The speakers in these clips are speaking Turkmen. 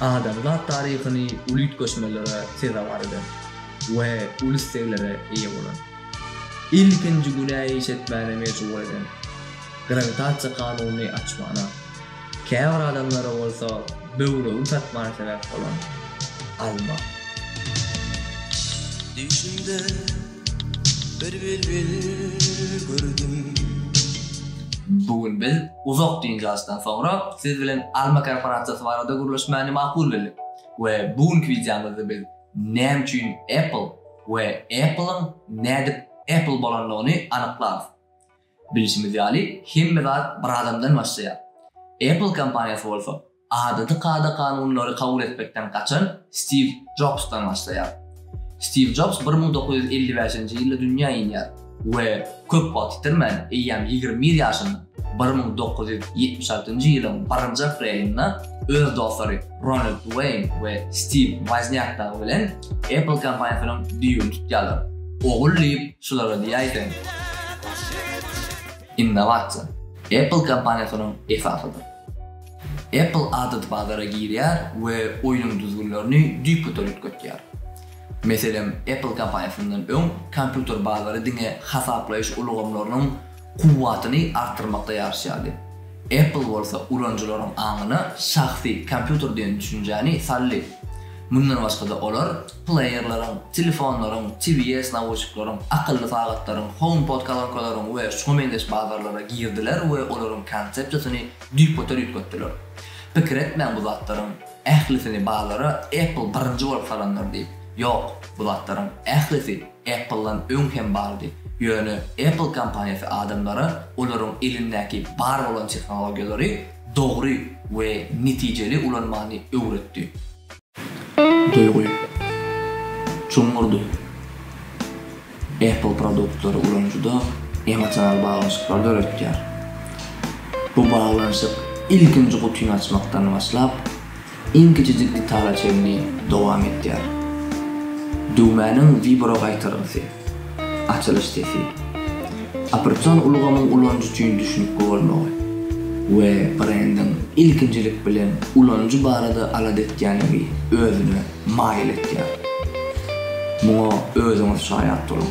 Adamzat taryhyny uly üýtgeşmelere sezewar eden we uly isleglere eýe bolan, ilkinji günä iş etmäne mejbur eden grawitasiýa kanunyny açmana, Käbir adamlara bolsa böwregiň çatmany sebäp bolan alma. Düşümde bir bilbil gördüm. Bu gün biz uzak dynç alyşdan soňra siz bilen alma korporasiýasy barada gürleşmäni makul bildik we bu günki wideomyzda biz näme üçin Apple we Apple-yň nädip Apple bolandygyny anyklarys. Bilşimiz ýaly, hemme zat bir adamdan başlaýar. Apple kompaniýasy bolsa, adaty kada-kanunlary kabul etmekden gaçan Stiw Jobsdan başlaýar. Stiw Jobs bir müň dokuz ýüz elli bäşinji ýylda dünýä inýär we köp wagt ýitirmän, eýýäm ýigrimi bir ýaşynda, bir müň dokuz ýüz ýetmiş altynjy ýylyň birinji aprelinda öz dostlary Ronald Weýn we Stiw Woznýak dagy bilen, Apple kompaniýasynyň düýbüni tutýarlar. Ogul diýip şulara diýäýseň. Innowasiýa Apple kompaniýasynyň esasydyr. Apple adaty bazara girýär we oýnuň düzgünlerini düýpgöter üýtgetýär. Meselem, Apple kompaniýasyndan öň kompýuter bazary diňe hasaplaýyş ulgamlarynyň kuwwatyny artdyrmakda ýaryşýardy. Apple bolsa ulanyjylaryň aňyna şahsy kompýuter diýen düşünjäni saldy. Mundan başga-da olar pleýerleriň, telefonlaryň, TVS nawuşnikleriň, akylly sagatlaryň, HomePod kolonkalaryň we şuňa meňzeş bazarlara girdiler we olaryň konsepsiýasyny düýpgöter üýtgetdiler. Pikir etmäň bu zatlaryň ählisini bazara Apple birinji bolup salandyr diýip. Ýok, bu zatlaryň ählisi. Apple-dan öň hem bardy. Ýöne Apple kompaniýasy adamlara olaryň elindäki bar bolan tehnologiýalary dogry we netijeli ulanmany öwretdi. Duýgy. Çuňňurdy. Apple produktlary ulanyjyda emosional baglanyşyklar döretýär. Bu baglanyşyk ilkinji gutyny açmakdan başlap, iň kiçijik detala çenli dowam etýär. Düwmäniň wibro gaýtargysy, açylyş sesi, operasion ulgamyň ulanyjy üçin düşnükli bolmagy we brendiň ilkinjilik bilen ulanyjy barada alada etýänligi özüne maýyl etýär. Muňa özüňiz şaýat boluň!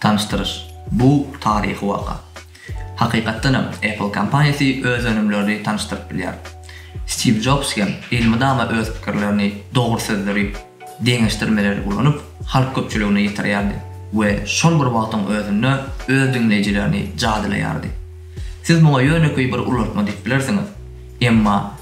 Tanyşdyryş, Bu taryhy waka. Hakykatdan hem, Apple kompaniýasy öz önümlerini tanyşdyryp bilýär. Stiw Jobs hem elmydama öz pikirlerini, dogry sözleri, deňeşdirmeleri ulanyp, halk köpçüligine ýetirýärdi we şol bir wagtyň özünde öz diňleýjilerini jadylaýardy. Siz muňa ýönekeý bir ulaltma diýip bilersiňiz. Emma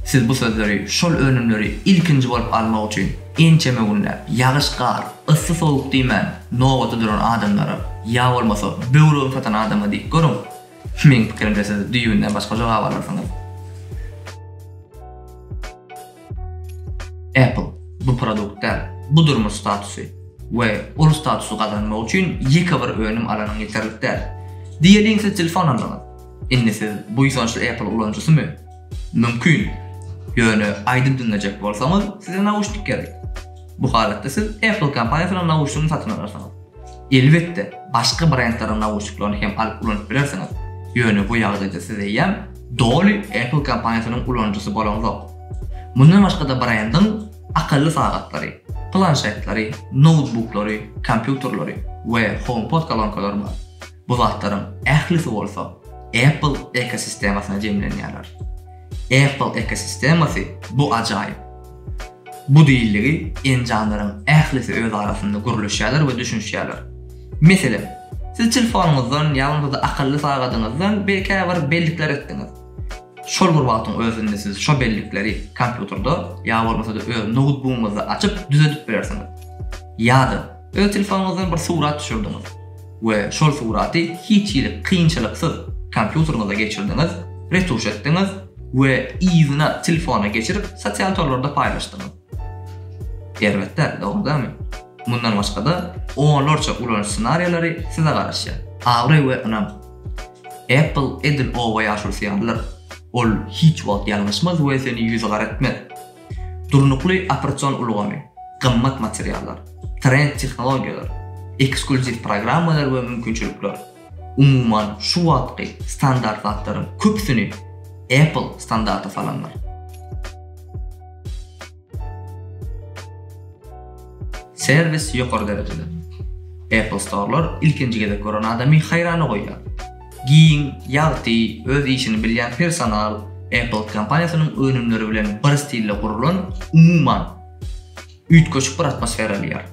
siz bu sözleri şol önümleri ilkinji bolup almak üçin ençeme günläp, ýagyş-gar, yssy-sowuk diýmän, nobata duran adamlara, ýa bolmasa böwregini satan adama diýip görüň. Meň pikirimçe siz düýbünden başga jogap alarsyňyz. Apple bu produkt däl, bu durmuş statusy we ol statusy gazanmak üçin ýeke bir önüm alanyň ýeterlik däl. Diýeliň siz telefon aldyňyz. Indi siz buýsançly Apple ulanyjysymy? Mümkin. Ýöne aýdym diňlejek bolsaňyz, size nauşnik gerek. Bu halatda siz Apple kompaniýasynyň nauşnigini satyn alarsyňyz. Elbetde, başga brendleriň nauşniklerini hem alyp ulanyp bilersiňiz, ýöne bu ýagdaýda siz eýýäm doly Apple kompaniýasynyň ulanyjysy bolaňzok. Mundan başga-da brendiň akylly sagatlary, planşetleri, noutbuklary, kompýuterleri we HomePod kolonkalary bar. Bu zatlaryň ählisi bolsa Apple ekosistemasyna jemlenýärler. Apple ekosistemasy bu ajaýyp. Bu diýildigi enjamlaryň ählisi öz arasynda gürleşýärler we düşünişýärler. Meselem, siz telefonyňyzdan ýalňyz-da akylly sagadyňyzdan bir käbir bellikler etdiňiz. Şol bir wagtyň özünde siz şo bellikleri kompýuterde ýa bolmasa-da öz noutbugyňyzda açyp düzedip bilersiňiz. Ýa-da. Öz telefonuňyzdan bir surat düşürdiňiz we şol suraty hiç hili kynçylyksyz kompýuteriňize geçirdiňiz, retuş etdiňiz we yzyna telefona geçirip sosial torlarda paýlaşdyňyz. Erbet däl, dogrudanmy? Mundan başga-da, onlarça ulanyş ssenariýalary size garaşýar. Abraý we ynam. Apple edil oba ýaş ursaýarlar. Ol hiç wagt ýalňyşmaz we seni ýüzügara etmez. Durnukly operasion ulgamy, gymmat materiallar, trend tehnologiýalar, eksklýuziw programmalar we mümkinçilikler, umuman, şu wagtky standart zatlaryň köpüsini Apple standarta salandyr. Serwis ýokary derejede. Apple Store-lar ilkinji gezek gören adamy haýrana goýýar. Giň, ýagty, öz işini bilýän personal Apple kompaniýasynyň önümleri bilen bir stilde gurlan, umuman, üýtgeşik bir atmosfera alýar.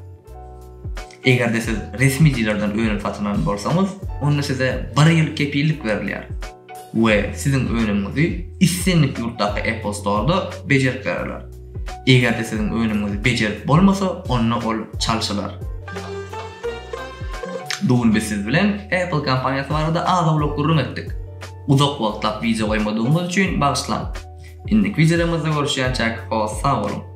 Eger-de siz resmi dilerden önüm satyn alan bolsaňyz, onda size bir ýyl kepillik berilýär we siziň önümiňizi islendik ýurtdaky Apple Store-da bejerip bererler. Eger-de siziň önümiňizi bejerip bolmasa, onda ol çalşylar. Bu gün biz siz bilen Apple kompaniýasy barada az-owlak gürrüň etdik. Uzak wagtlap wideo goýmadygymyz üçin bagyşlaň. Indiki wideolarymyzda görüşýänçäk hos sag boluň.